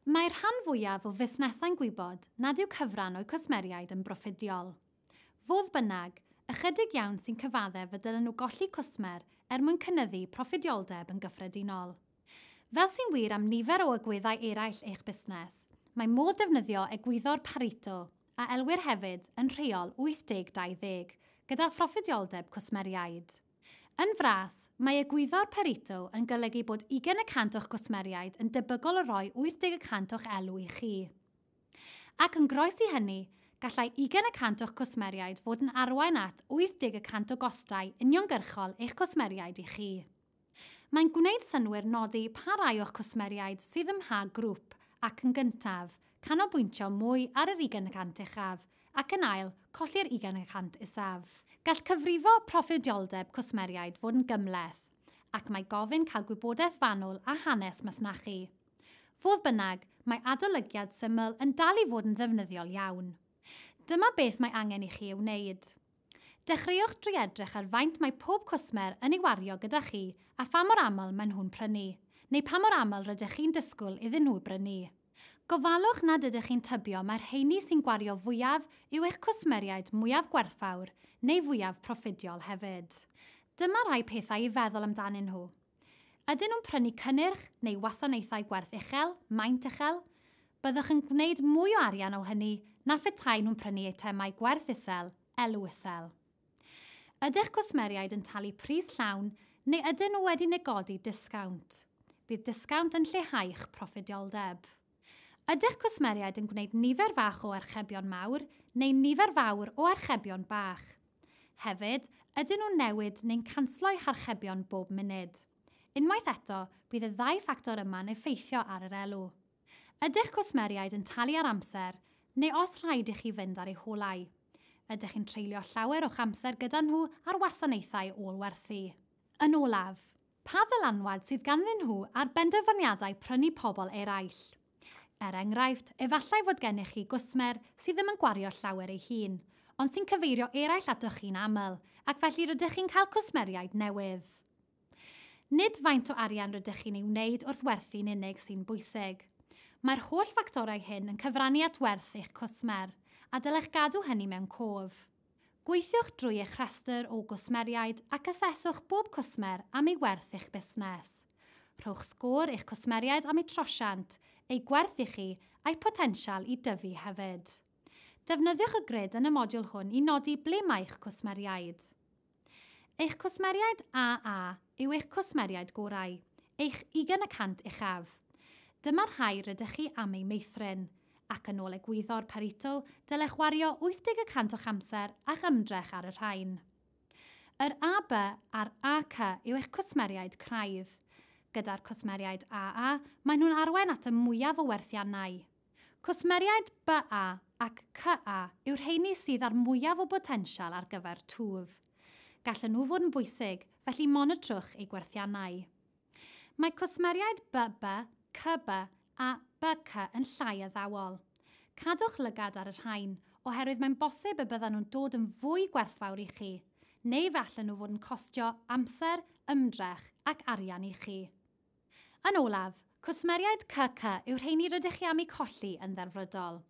Mae'r rhan fwyaf o fusnesau'n gwybod nad yw cyfran o'u cwsmeriaid yn broffidiol. Fodd bynnag, ychydig iawn sy'n cyfaddef y dylen nhw golli cwsmer er mwyn cynyddu proffidioldeb yn gyffredinol. Fel sy'n wir am nifer o agweddau eraill eich busnes, mae modd defnyddio egwyddor Pareto, a elwir hefyd yn Rheol 80-20, gyda phroffidioldeb cwsmeriaid. Yn fras, mae egwyddor Pareto yn golygu bod ugain y cant o'ch cwsmeriaid yn debygol o roi 80 y cant o'ch elw i chi. Ac yn groes i hynny, gallai ugain y cant o'ch cwsmeriaid fod yn arwain at 80 y cant o gostau uniongyrchol eich cwsmeriaid i chi. Mae'n gwneud synnwyr nodi pa rai o'ch cwsmeriaid sydd ym mha grwp ac, yn gyntaf, canolbwyntio mwy ar yr ugain y cant uchaf, ac yn ail, colli'r ugain y cant isaf. Gall cyfrifo proffidioldeb cwsmeriaid fod yn gymhleth, ac mae gofyn cael gwybodaeth fanwl a hanes masnachu. Fodd bynnag, mae adolygiad syml yn dal i fod yn ddefnyddiol iawn. Dyma beth mae angen i chi ei wneud. Dechreuwch drwy edrych ar faint mae pob cwsmer yn ei wario gyda chi a pha mor aml maen nhw'n prynu, neu pa mor aml rydych chi'n disgwyl iddyn nhw brynu. Gofalwch nad ydych chi'n tybio mai'r rheiny sy'n gwario fwyaf yw eich cwsmeriaid mwyaf gwerthfawr neu fwyaf proffidiol hefyd. Dyma rhai pethau i feddwl amdanyn nhw. Ydyn nhw'n prynu cynnyrch neu wasanaethau gwerth uchel, maint uchel? Byddwch yn gwneud mwy o arian o hynny na phetaen nhw'n prynu eitemau gwerth isel, elw isel. Ydych cwsmeriaid yn talu pris llawn neu ydyn nhw wedi negodi disgownt? Bydd disgownt yn lleihau'ch proffidioldeb. Ydych cwsmeriaid yn gwneud nifer fach o archebion mawr neu nifer fawr o archebion bach? Hefyd, ydyn nhw'n newid neu'n canslo'u harchebion bob munud? Unwaith eto, bydd y ddau ffactor yma'n effeithio ar yr elw. Ydych cwsmeriaid yn talu ar amser, neu os rhaid i chi fynd ar eu holau? Ydych chi'n treulio llawer o'ch amser gyda nhw ar wasanaethau ôl-werthu? Yn olaf, Pa ddylanwad sydd ganddyn nhw ar benderfyniadau prynu pobl eraill? Er enghraifft, efallai fod gennych chi gwsmer sydd ddim yn gwario llawer ei hun, ond sy'n cyfeirio eraill atoch chi'n aml, ac felly rydych chi'n cael cwsmeriaid newydd. Nid faint o arian rydych chi'n ei wneud wrth werthu'n unig sy'n bwysig. Mae'r holl ffactorau hyn yn cyfrannu at werth eich cwsmer, a dylech gadw hynny mewn cof. Gweithiwch drwy eich rhestr o gwsmeriaid ac aseswch bob cwsmer am ei werth i'ch busnes. Rhowch sgôr i'ch cwsmeriaid am eu trosiant, eu gwerth i chi, a'u potensial i dyfu hefyd. Defnyddiwch y grid yn y modiwl hwn i nodi ble mae'ch cwsmeriaid. Eich cwsmeriaid AA yw eich cwsmeriaid gorau, eich ugain y cant uchaf. Dyma'r rhai rydych chi am eu meithrin, ac yn ôl egwyddor Pareto, dylech wario 80 y cant o'ch amser a'ch ymdrech ar y rhain. Yr AB a'r AC yw eich cwsmeriaid craidd. Gyda'r cwsmeriaid AA, maen nhw'n arwain at y mwyaf o werthiannau. Cwsmeriaid BA ac CA yw'r rheiny sydd â'r mwyaf o botensial ar gyfer twf. Gallen nhw fod yn bwysig, felly monitrwch eu gwerthiannau. Mae cwsmeriaid BB, CB a BC yn llai addawol. Cadwch lygad ar y rhain, oherwydd mae'n bosib y byddan nhw'n dod yn fwy gwerthfawr i chi, neu fe allan nhw fod yn costio amser, ymdrech ac arian i chi. Yn olaf, cwsmeriaid CC yw'r rheini rydych chi am eu colli yn ddelfrydol.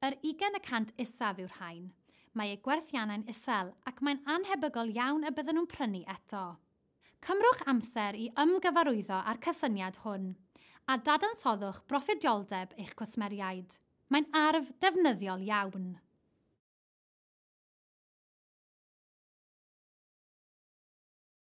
Yr ugain y cant isaf yw'r rhain. Mae eu gwerthiannau'n isel ac mae'n annhebygol iawn y byddan nhw'n prynu eto. Cymrwch amser i ymgyfarwyddo â'r cysyniad hwn, a dadansoddwch broffidioldeb eich cwsmeriaid. Mae'n arf defnyddiol iawn.